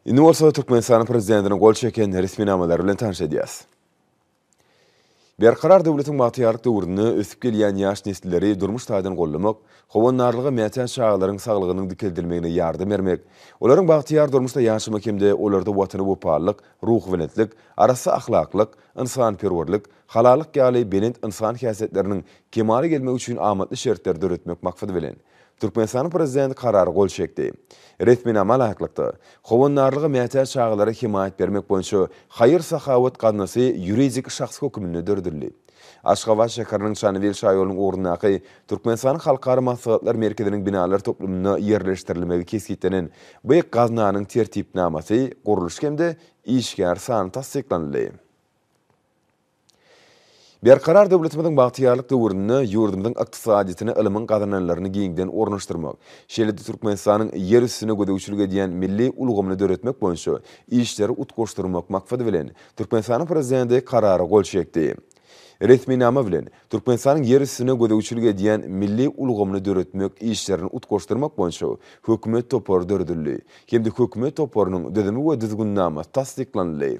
Indi bolsa Türkmenistanyň prezidentiniň gol çeken resminamalary bilen tanyş edýäs. Berkarar döwletiň bagtyýarlyk döwründe ösüp gelýän ýaş nesilleri durmuş taýdan gollamak, howandarlyga mätäç çagalaryň saglygynyň dikeldilmegine ýardam bermek, olaryň bagtyýar durmuşda ýaşamak hem-de olarda Watana wepalylyk, ruhubelentlik, arassa ahlaklyk, ynsanperwerlik, halallyk ýaly belent ynsan häsiýetleriniň kemala gelmegi üçin amatly şertleri döretmek maksady bilen, Türkmenistanyň Prezidenti Karara gol çekdi. Resminama laýyklykda, Howandarlyga mätäç çagalara hemaýat bermek boýunça haýyr-sahawat gaznasy ýuridik şahs hökmünde döredildi. Aşgabat şäheriniň Çanybil şaýolunyň ugrundaky Türkmenistanyň Halkara maslahatlar merkeziniň binalar toplumynda ýerleşdirilmegi kesgitlenen bu gaznanyň tertipnamasy, gurluş hem-de işgär sany tassyklanyldy. Berkarar döwletimiziň bagtyýarlyk döwründe ýurdumyzyň ykdysadyýetine ylmyň gazananlaryny giňden ornaşdyrmak, şeýle-de Türkmenistanyň ýer üstüne gözegçilik edýän milli ulgamyny döretmek boýunça işleri utgaşdyrmak maksady bilen, Türkmenistanyň Prezidenti Karara gol çekdi. Resminama bilen, Türkmenistanyň ýer üstüne gözegçilik edýän milli ulgamyny döretmek işlerini utgaşdyrmak boýunça Hökümet topary döredildi hem-de Hökümet toparynyň düzümi we düzgünnamasy tassyklanyldy.